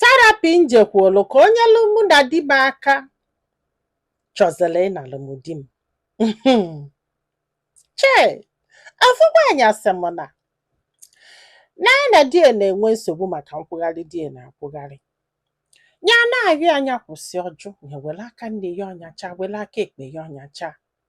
therapy m jekwuolu ka o nyelu mụ na di m aka chọziri ịnalụ m di m chee afụ nwaanyị a sị m na na ya na di ya na-enwe nsogbu maka nkwụgharị di ya na-akwụgharị ya na-arịọ ya nya kwụsị ọ jụ ya were aka nni ya ọ nyacha were aka ekpe ya ọ nyacha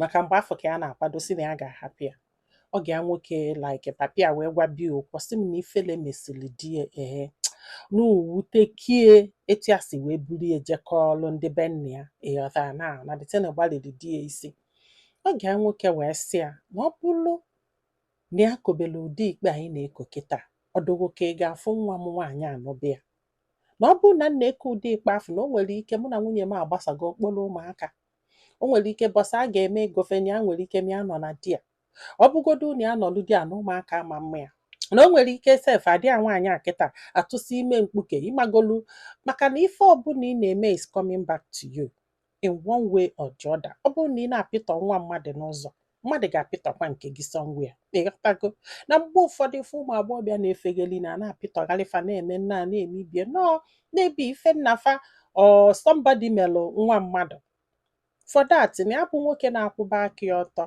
maka mgbe afụ ka ya na-akwadozi na ya ga-ahapụ ya ọgọ ya nwoke like papa ya wee gwaba ya okwu sị m na ifele mesịrị di ya ehe na o wuteka ya etu ya si wee buru ya je kọọlụ ndị be nna ya ị ghọta na na that thing a gbalịrị di ya isi ọgọ ya nwoke wee sị ya na ọ bụrụ na ya kobere ụdị ikpe anyị na-eko kịta ọ dị gị ka ị ga-afụ nwa m nwaanyị anụ be ya na ọ bụrụ na m na-eko ụdị ikpe afụ na o nwere ike mụ na nwunye m agbasago ọ kpọrọ ụmụaka o nwere ike bọsị a ga-eme egofeni ya nwere ike mịa nọ na di ya ọ bụgodu unu anọlụ di ya na ụmụaka ama ama ya na o nwere ike sef ada ya nwaanyị a kịta atụsịa ime mkpuke ị magolu maka na ife ọbụla ị na-eme is coming back to you in one way or the other ọ bụrụ na ị na-apịtọ nwa mmadụ n'ụzọ mmadụ ga-apịtọkwa nke gị somewhere ị ghọtago na mgbe ụfọdụ ife ụmụ agbọghọbịa na-efegeli na a na-apịtọgharị fa na-eme nna na-emebie na ọ na-abụ ife nna fa or somebody melụ nwa mmadụ for that na ya bụ nwoke na-akwụba aka ya ọtọ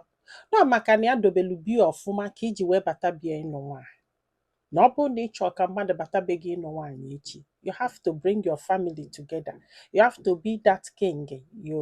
na ọ maka na ya dobelu be ya ọfụma ka i ji wee bata be ya ịnụ nwaanyị na ọ bụrụ na ị chọọ ka mmadụ bata be gị ịnụ nwaanyị echi you have to bring your family together you have to be that king you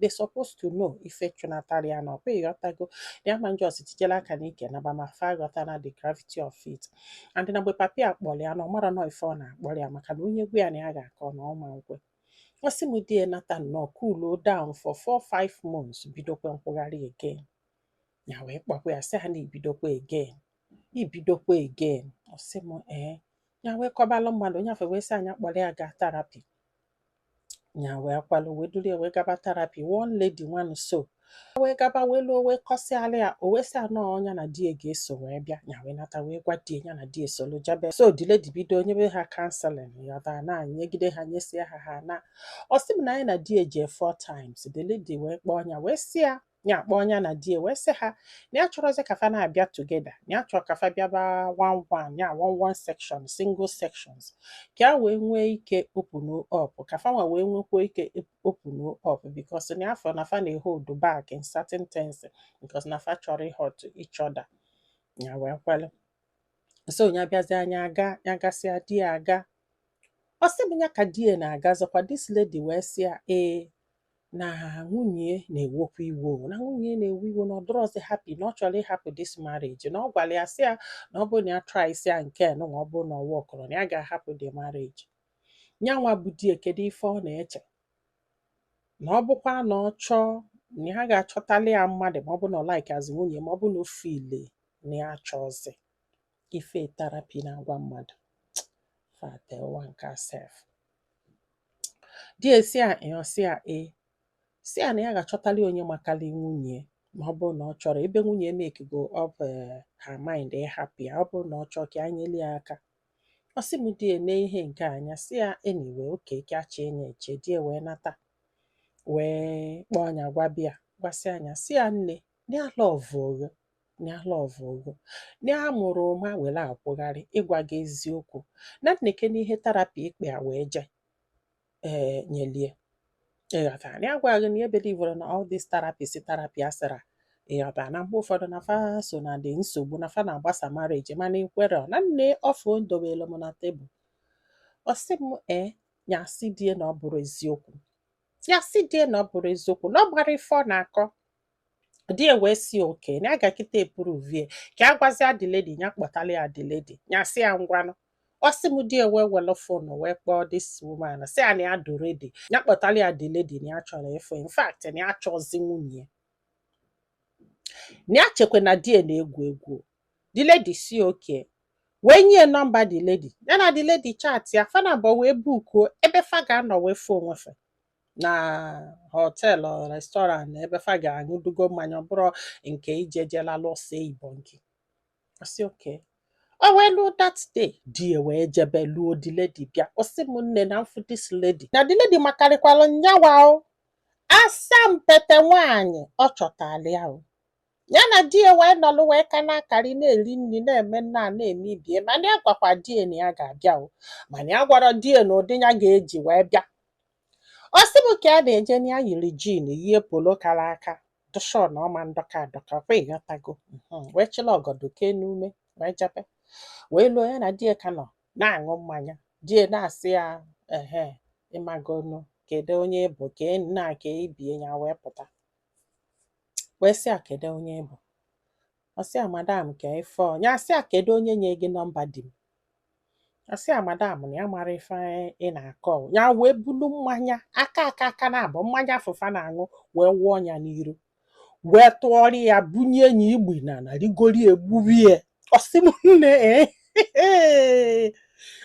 they supposed to know ife chụnatara ya na ọkwa ị ghọtago ya ama just tijela aka n'ike naba ma fa aghọtana the gravity of it and na mgbe papa ya kpọrọ ya na ọ mara na ọ ife ọ na-akpọrọ ya maka na onye gwa ya na ya ga-akọ na ọ ma ekwe ọ sị m di ya nata nnọọ cool down for 4-5 months bidokwa nkwụgharị again ya wee kpọkwa ya sị ya na i bidokwa again i bidokwa again ọ sị m ee ya wee kọbalụ mmadụ onye afụ wee sị ya nya kpọrọ ya gaa therapy nya wee kwelụ wee duru ya wee gaba therapy one lady nwanụ so wee gaba wee luo wee kọsịala ya o wee sị ya na ọ nya na di ya ga-eso wee bịa nya wee nata wee gwa di ya nya na di ya esolu jebe so the lady bido nyebe ha counselling ị ghọta na nyegide ha nyesie ha ha na ọ sị m na nya na di ya eje four times the lady wee kpọọ nya wee sị ya ya akpọọ nya na di ya wee sị ha na ya achọrọzi ka fa na-abịa together na ya chọrọ ka fa bịaba one one ya one one section single sections ka ya wee nwee ike open up ka fa nwa wee nwekwa ike open up because na ya fụ na fa na-ehold back in certain things because na fa achọrọ ịhurt each other ya wee kwelụ so ya bịazia nya aga ya gasịa di ya aga ọ sị m ya ka di ya na-agazikwa this lady wee sị ya ee na nwunye na-ewekwa iwe o, na nwunye na-ewe iwe na ọ dịrọzi happy na ọ chọrọ ịhapụ this marriage na ọ gwara ya sị ya na ọ bụrụ na ya traịsịa nke nwa ọ bụrụ na ọ workrọ na ya ga-ahapụ the marriage nyanwa bụ di ya kedu ife ọ na-eche na ọ bụkwa na ọ chọọ na ya ga-achọtali ya mmadụ ma ọ bụ na ọ likeazị nwunye ma ọ bụ na o feel na ya achọzi ife therapy na-agwa mmadụ fate ụwa nke a sef di ya sị ya ọ sị ya e sị ya na ya ga-achọtali onye makali nwunye ma ọ bụrụ na ọ chọrọ ebe nwunye mekigo up her mind ịhapụ ya ọ bụrụ na ọ chọọ ka ya nyeli ya aka ọ sị m di ya ene ihe nke anya sị ya anyway okay ka ya chee nya eche di ya wee nata wee kpọọ nya gwaba ya gwasịa nya sị ya nne na ya lọvụ gị o na ya lọvụ gị o na ya mara ụma were akwụgharị ịgwa gị eziokwu na nekene ihe therapy ikpe a wee jee nyeli ya ịghọta na ya gwa gị na ya ebelieverọ na all this therapy si therapy asịra ịghọta na mgbe ụfọdụ na fa so na ndị nsogbu na fa na-agbasa marriage mana i kwerọ na nee offer o dobere m na tebụl ọ sị m ee ya sị di ya na ọ bụrọ eziokwu ya sị di ya na ọ bụrọ eziokwu na ọ marọ ife ọ na-akọ di ya wee sị okay na ya ga kịta eprove ya ka ya gwazie the lady ya kpọtara ya the lady ya sị ya ngwanụ ọ sị m di ya wee were fon wee kpọọ this woman sị ya na ya dị ready ya kpọtara ya the lady na ya chọrọ ịfụ in fact na ya achọzi nwunye ya na ya chekwa na di ya na-egwu egwu the lady sị okay wee nye ya nọmba the lady ya na the lady chatịa fa naabọ wee bukuo ebe fa ga-anọ wee fụ onwe fa na họteelụ restọrant ebe fa ga-aṅụdugo mmanya ọ bụrọ nke ije jela lụsị igbo nke ọ sị okay o wee luo that day di ya wee jebe luo the lady bịa ọ sị m nne na m fụ this lady na the lady makarịkwalụ nyanwa o asampete nwaanyị ọ chọtali ya o Ya na di ya wee nọlụ wee ka na-akọrị na-eri nri na-eme nna a na-eme ibe ya mana ya agwakwa di ya na ya ga-abịa o mana ya agwarọ di ya na ụdị ya ga-eji wee bịa ọ sị m ka ya na-eje na ya yiri jin yie polo kara nka to show na ọma ndọka adọka kwa ị ghọtago Mhm. wee chịla ọgọdọ kee n'ume wee jebe wee luo ya na di ya ka nọ na-aṅụ mmanya di ya na-asị ya ehe ị magonu kedu onye bụ ka nna ka ibe ya ya wee pụta wee sị ya kedu onye ị bụ ọ sị ya madam ka ife ọ ya sị ya kedu onye nye gị nọmba di m ọ sị ya madam na ya amarọ ife ị na-akọ o." ya wee bulu mmanya aka aka aka naabọ mmanya afụ fa na-aṅụ wee wụọ ya n'iru wee tụọrọ ya bunye ya igbi na na rigori egburie ọ sị m nne ee ee.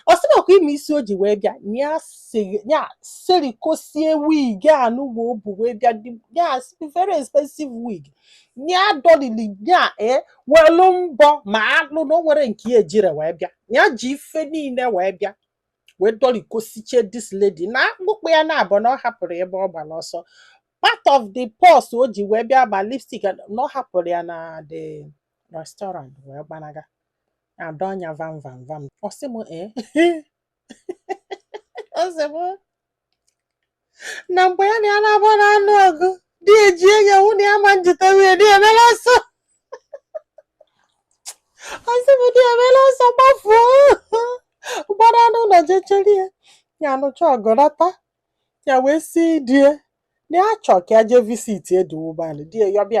ọ sị m ọ kwa ị ma isi o ji wee bịa na ya siri- ya serikosie wig anụwa o bu wee bịa dị- ya very expensive wig ya dọlili ya ee welu mbọ ma alụ na o nwerọ nke ya ejirọ wee bịa ya ji ife niile wee bịa wee dọlikosichie this lady na akpụkpọ ya naabọ na ọ hapụrụ ebe ọ gbara ọsọ part of the purse o ji wee bịa ma lipstick and- na ọ hapụrụ ya na the restaurant wee gbanaga adọ anya vam vam vam ọ sị m ee ọ sị m na mgbe ya na ya naabọ na-anụ ọgụ di eji enye nwụ na ya ma njite nwunye di e mela ọsọ ọ sị m di e mela ọsọ gbafuo gbara n'ụlọ jee chere ya ya anụcha ọgụ nata ya wee sị di e na ya chọ ka ya jee visit eduwubanị di e yọba ya